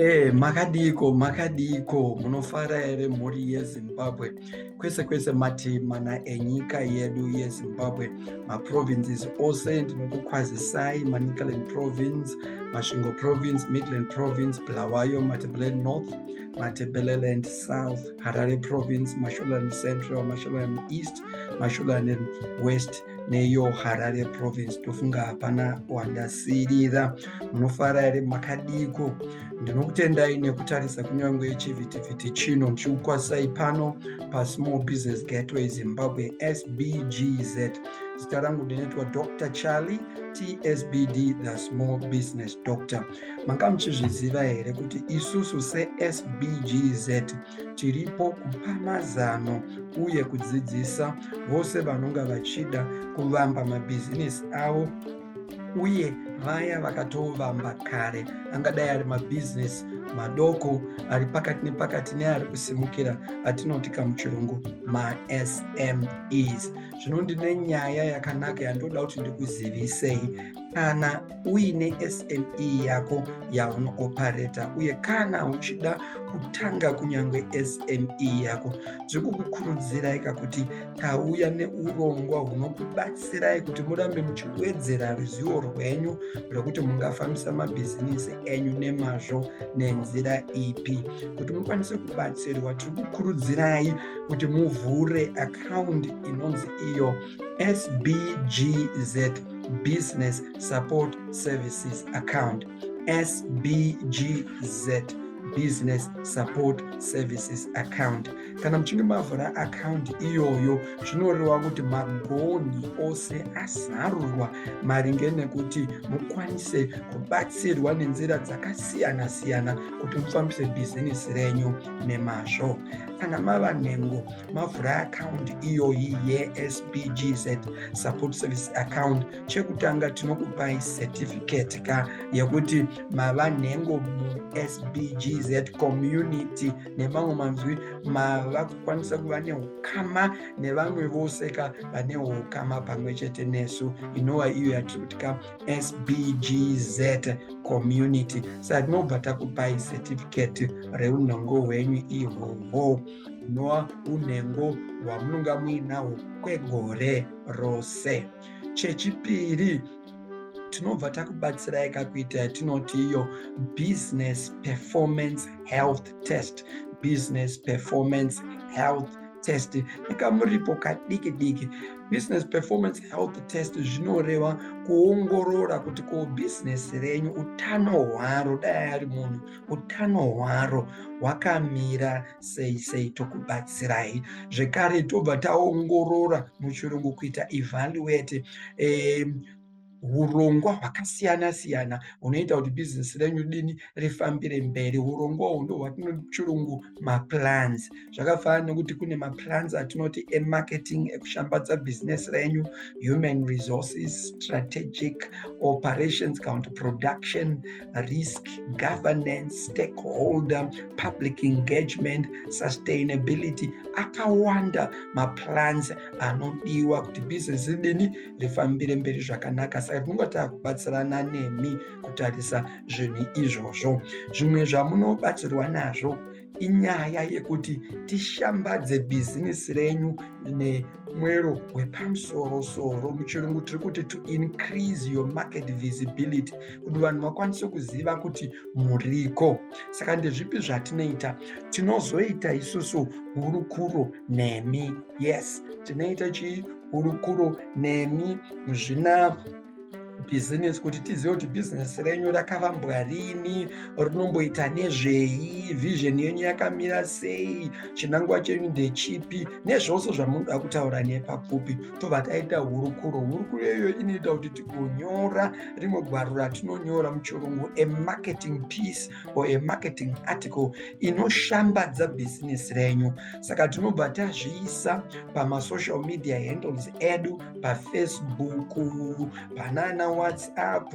Eh, makadiko makadiko munofara here mhuri yezimbabwe kwese kwese matimana enyika yedu yezimbabwe maprovinces ose ndinokukwazisai manicaland province masvingo province midland province bulawayo matebeleni north matebeleland south harare province masholand central masholand east mashogaland west neyo harare province tofunga hapana wandasirira munofara here makadiko ndinokutendai nekutarisa kunyange chivhitivhiti chino ndichikukwasai pano pasmall business gateway zimbabwe sbgz zita rangu ndinoitwa dr charlie tsbd the small business doctor manga muchizviziva here kuti isusu sesbgz tiripo kupa mazano uye kudzidzisa vose vanonga vachida kuvamba mabhizinesi avo uye vaya vakatovamba kare angadai ari mabhizinesi madoko ari pakati nepakati neari kusimukira atinoti kamuchirungu masmes zvino ndine nyaya yakanaka yandinoda kuti ndikuzivisei kana uine SME yako yaunopareta uye kana uchida kutanga kunyange SME yako zviri kukukurudzirai kuti tauya neurongwa hunokubatsirai kuti murambe muchiwedzera ruzivo rwenyu rwekuti mungafambisa mabhizinisi enyu nemazvo nenzira ipi kuti mukwanise kubatsirwa tiri kukurudzirai kuti muvhure akaundi inonzi iyo sbgz business support services account sbgz business support services account kana muchinge mavhura akaunti iyoyo zvinoreva kuti magonhi ose azarurwa maringe nekuti mukwanise kubatsirwa nenzira dzakasiyana siyana kuti mufambise bhizinesi renyu nemazvo kana mava nhengo mavhura akaundi iyoyi yesbgz support service account chekutanga tinokupai certificate ka yekuti mava nhengo musbgz community nemamwe manzwi mava kukwanisa kuva neukama nevamwe vose ka vane ukama pamwe chete nesu inova iyo yatiri kuti ka sbgz community saka tinobva takupai certificate reunhongo hwenyu ihwohwo noa unhengo hwamunonga muinahwo kwegore rose chechipiri tinobva takubatsirai kakuita yatinoti iyo business performance health test business performance health test nekamuripo kadiki diki business performance health test zvinoreva kuongorora kuti ko business renyu utano hwaro dai ari munhu utano hwaro hwakamira sei sei tokubatsirai zvekare tobva taongorora muchirungu kuita evaluate eh, urongwa hwakasiyana siyana hunoita kuti bhizinesi renyu dini rifambire mberi urongwa uhwu ndo hwatinochirungu maplans zvakafanana nekuti kune maplans atinoti emarketing ekushambadza bhizinesi renyu human resources strategic operations kana kuti production risk governance stakeholder public engagement sustainability akawanda maplans anodiwa kuti business ridini rifambire mberi zvakanaka saka tinonga takubatsirana nemi kutarisa zvinhu izvozvo zvimwe zvamunobatsirwa nazvo inyaya yekuti tishambadze bhizinesi renyu nemwero wepamusorosoro muchirungu tiri kuti to increase your market visibility kuti vanhu vakwanise kuziva kuti muriko saka ndezvipi zvatinoita tinozoita isusu hurukuro nemi yes tinoita chii hurukuro nemi zvina bhizinesi kuti tizive kuti bhizinesi renyu rakavambwa rini rinomboita nezvei vision yenyu yakamira sei chinangwa chenyu ndechipi nezvose zvamunoda kutaura nepapfupi tobva taita hurukuro hurukuro iyoyo inoita kuti tigonyora rimwe gwaro ratinonyora muchirungu amarketing piece or amarketing article inoshambadza bhizinesi renyu saka tinobva tazviisa pamasocial media handles edu pafacebook panana whatsapp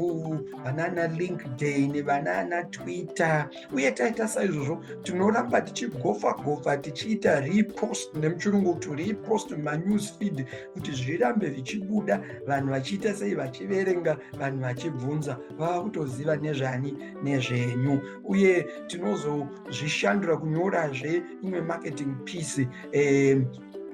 vanana linkedin vanana twitter uye taita saizvozvo tinoramba tichigofa gofa tichiita repost nemuchirungu kuti repost manews feed kuti zvirambe zvichibuda vanhu vachiita sei vachiverenga vanhu vachibvunza vava kutoziva nezvani nezvenyu uye tinozozvishandura kunyorazve imwe marketing piece eh,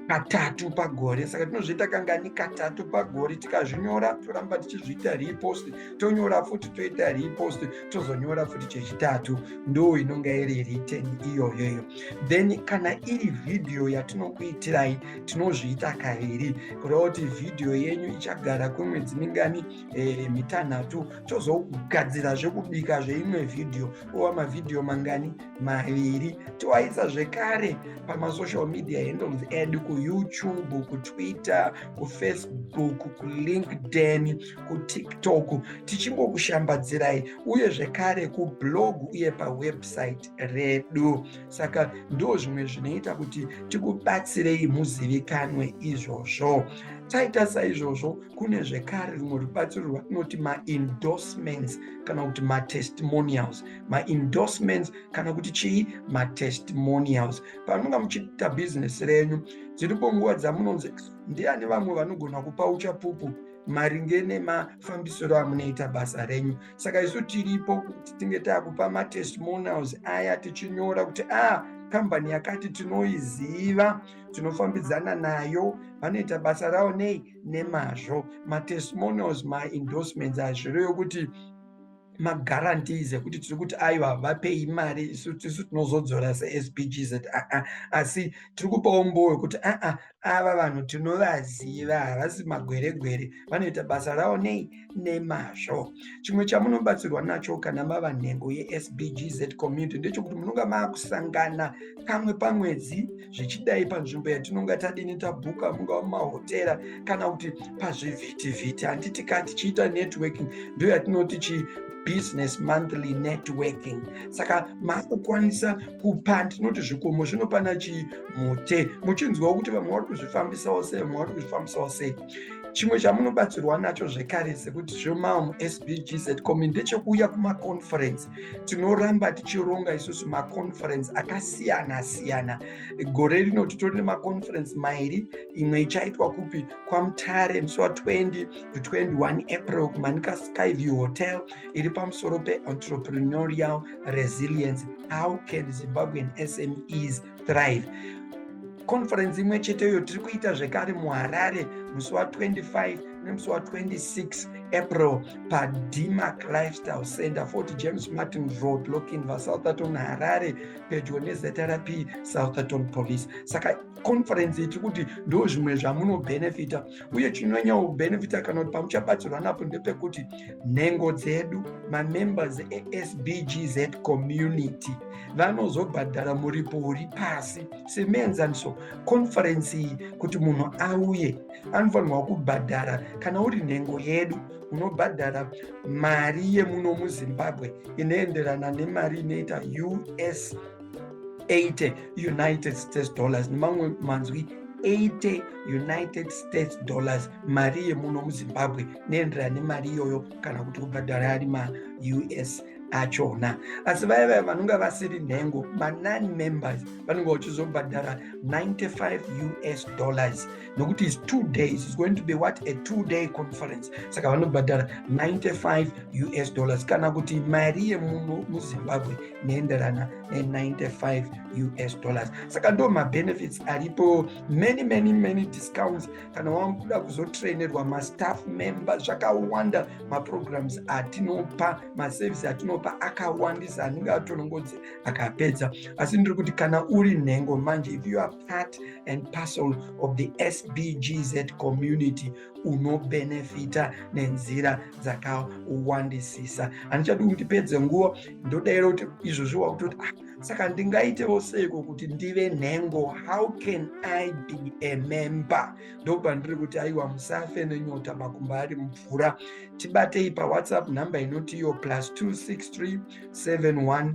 katatu pagore saka tinozviita kangani katatu pagore tikazvinyora toramba tichizviita repost tonyora futi toita repost tozonyora futi chechitatu ndo inonge iri riten iyoyoyo then kana iri vhidhiyo yatinokuitirai tinozviita kaviri kureva kuti vhidhiyo yenyu ichagara kwemwedzi mingani e, mitanhatu tozogadzira zvekubika zveimwe vhidhiyo ova mavhidhiyo mangani maviri toaisa zvekare pamasocial media handles edu kuyoutube kutwitter kufacebook kulinkedin kutiktok tichingokushambadzirai uye zvekare kublog uye pawebsite redu saka ndo zvimwe zvinoita kuti tikubatsirei muzivikanwe izvozvo taita saizvozvo kune zvekare rumwe rubatsiro rwatinoti maendorsements kana kuti matestimonials maendorsements kana kuti chii matestimonials pamunonga muchiita bhizinesi renyu dziripo nguva dzamunonzi ndiani vamwe vanogona kupa uchapupu maringe nemafambisiro amunoita basa renyu saka isu tiripo kuti tinge takupa matestimonials aya tichinyora kuti a ah, kambani yakati tinoiziva tinofambidzana nayo vanoita basa ravo nei nemazvo matestimonials maendorsements hazvireyo kuti maguarantees ekuti tiri kuti aiwa havapei mari isu tisu tinozodzora sespgz aa asi tiri kupawo mbowo yekuti aa ava vanhu tinovaziva havasi magweregwere vanoita basa ravo nei nemazvo chimwe chamunobatsirwa nacho kana mava nhengo yespgz community ndechekuti munonga maakusangana kamwe pamwedzi zvichidai panzvimbo yatinonga tadini tabhuka mungava mumahotera kana kuti pazvivhitivhiti handiti ka tichiita networking ndo yatinoti chi business monthly networking saka makukwanisa kupa ndinoti zvikomo zvino pana chii mute muchinzwawo kuti vamwe vari kuzvifambisawo sei vamwe vari kuzvifambisawo sei chimwe chamunobatsirwa nacho zvekare sekuti zvemamu sbgz comi ndechekuuya kumaconference tinoramba tichironga isusu maconference akasiyana siyana gore rino titori nemaconference mairi imwe ichaitwa kupi kwamutare musi wa20 to 21 april kumanika skyview hotel iri pamusoro peentreprenorial resilience how can zimbabwean smes thrive conference imwe chete iyo tiri kuita zvekare muharare musi wa25 nemusi wa26 april padmac lifestyle center 40 james martin road lokinva southerton harare pedyo nezrp southerton police saka conference iyi tiri kuti ndo zvimwe zvamunobenefita uye chinonyanya kubenefita kana kuti pamuchabatsirwa napo ndepekuti nhengo dzedu mamembers esbgz community vanozobhadhara muripo uri pasi semuenzaniso konferensi iyi kuti munhu auye anofanirwa kubhadhara kana uri nhengo yedu unobhadhara mari yemuno muzimbabwe inoenderana nemari inoita us 80 united states dollars nemamwe manzwi 80 united states dollars mari yemuno muzimbabwe neenderana nemari iyoyo kana kuti kubhadhara ari maus achona asi vaya vaya vanonga vasiri nhengo manon members vanonga vachizobhadhara 95 us dollars nokuti is two days is going to be what a two day conference saka vanobhadhara 95 us dollars kana kuti mari yemuno muzimbabwe neenderana ne95 us dollars saka ndo mabenefits aripo many many many discounts kana wakuda kuzotrainerwa mastaff member zvakawanda maprograms atinopa maservice atinopa akawandisa anenge atonongodzi akapedza asi ndiri kuti kana uri nhengo manje if you are part and parcel of the SBGZ community unobenefita nenzira dzakawandisisa handichadi kuti ndipedze nguva ndodaira kuti izvozvi wakutoti ah, saka ndingaitewo seiko kuti ndive nhengo how can i be a member ndobva ndiri kuti aiwa musafe nenyota makumba ari mvura tibatei pawhatsapp nhamba inotiyo plus 263 71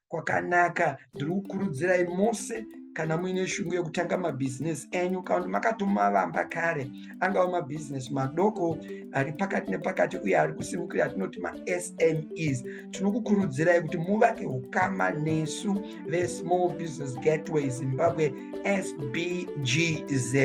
kwakanaka ndiri kukurudzirai mose kana muine shungu yekutanga mabhizinesi enyu kana kuti makatomavamba kare angava mabhizinesi madoko ari pakati nepakati uye ari kusimukira atinoti masmes tinokukurudzirai kuti muvake ukama nesu vesmall business gateway zimbabwe sbgz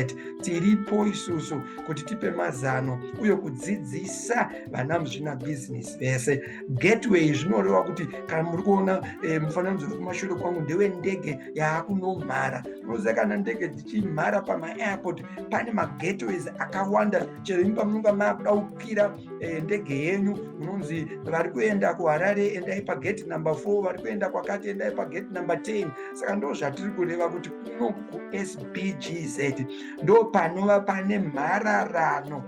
tiripo isusu kuti tipe mazano uye kudzidzisa vana muzvinabhizinesi vese gateway zvinoreva kuti kana muri kuona eh, mufananidzo uri kumashure kwangu ndewe ndege yaakunomhara unoziva kana ndege dzichimhara pamaairport pane magateways akawanda chero imi pamunonga maakuda kukwira eh, ndege yenyu munonzi vari kuenda kuharare endai pagate number four vari kuenda kwakati endai pagate number ten saka ndo zvatiri kureva kuti kuno kusbgz ndo panova pane mhararano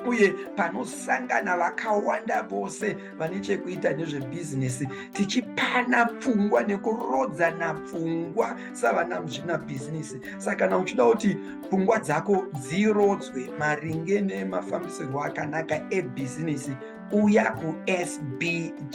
uye panosangana vakawanda vose vane chekuita nezvebhizinesi tichipana pfungwa nekurodzana pfungwa savana muzvina bhizinesi saka kana uchida kuti pfungwa dzako dzirodzwe maringe nemafambisirwo akanaka ebhizinesi uya kusbgz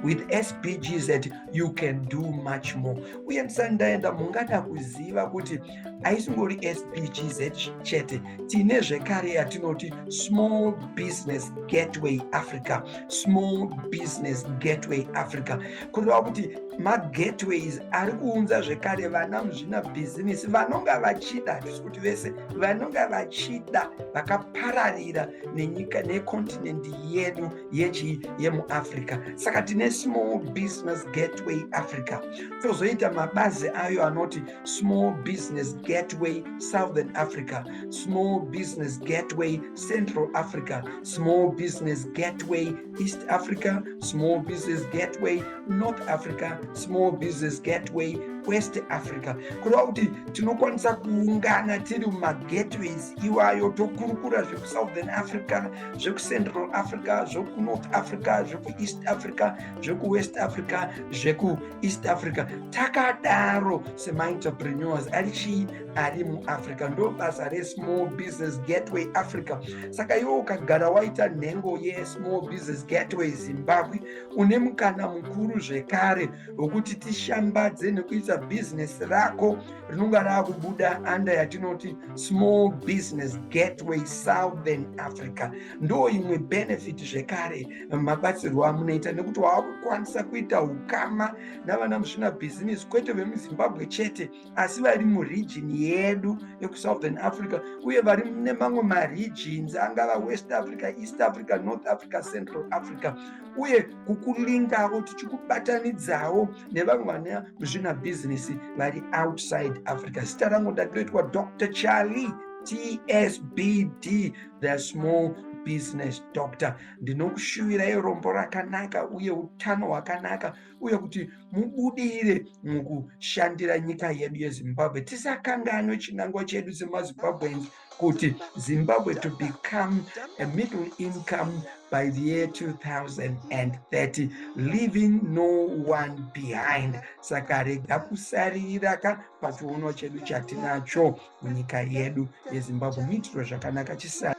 with sbgz you can do much more uye ndisandaenda mungada kuziva kuti haisingori sbgz chete tine zvekare yatinoti small business gateway africa small business gateway africa kureva kuti magateways ari kuunza zvekare vana muzvina bhizinesi vanonga vachida hatisi kuti vese vanonga vachida vakapararira nenyika nekontinendi yedu yechii yemuafrica saka tine small business gateway africa tozoita mabazi ayo anoti Small Business Gateway Southern Africa, Small Business Gateway Central Africa, Small Business Gateway East Africa, Small Business Gateway North Africa, Small Business Gateway West Africa. Kureva kuti tinokwanisa kuungana tiri mumagatways iwayo tokurukura zvekuSouthern Africa, zvekuCentral Africa, zvekuNorth Africa, zvekuEast Africa, zvekuWest Africa, zveku east africa takadaro semaentrepreneurs ari chii ari muafrica ndo basa resmall business gateway africa saka iwo ukagara waita nhengo yesmall business gateway zimbabwe une mukana mukuru zvekare wekuti tishambadze nekuita bhizinesi rako rinonga raakubuda anda yatinoti small business gateway southern africa ndo imwe benefit zvekare mabatsirwo amunoita nekuti waakukwanisa kuita ukama navana musvina bhizinesi kwete vemuzimbabwe chete asi vari muregion yedu yekusouthern africa uye vari nemamwe maregions angava west africa east africa north africa central africa uye kukulingavo tichikubatanidzawo nevamwe vana musvina bhizinesi vari outside africa zita rangu ndatoitwa dr charlie tsbd the small business doctor ndinokushuvirai rombo rakanaka uye utano hwakanaka uye kuti mubudire mukushandira nyika yedu yezimbabwe tisakanganwe chinangwa chedu semazimbabweans kuti zimbabwe to become a middle income by the year 2030 leaving no one behind saka rega kusarira ka pachiuno chedu chatinacho munyika yedu yezimbabwe muitiro zvakanaka chisari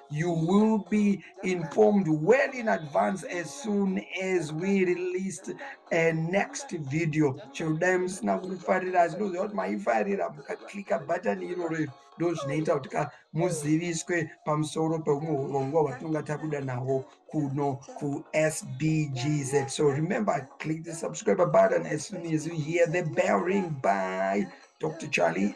You will be informed well in advance as soon as we released a next video. Chero dai musina kufarira asi ndoziva kuti maifarira mukaklika bhatani iroro iro ndo zvinoita kuti ka muziviswe pamusoro pehumwe urongwa hwatinonga tabuda nahwo kuno kusbgz so remember click the subscriber button as soon as you hear the bell ring by dr charlie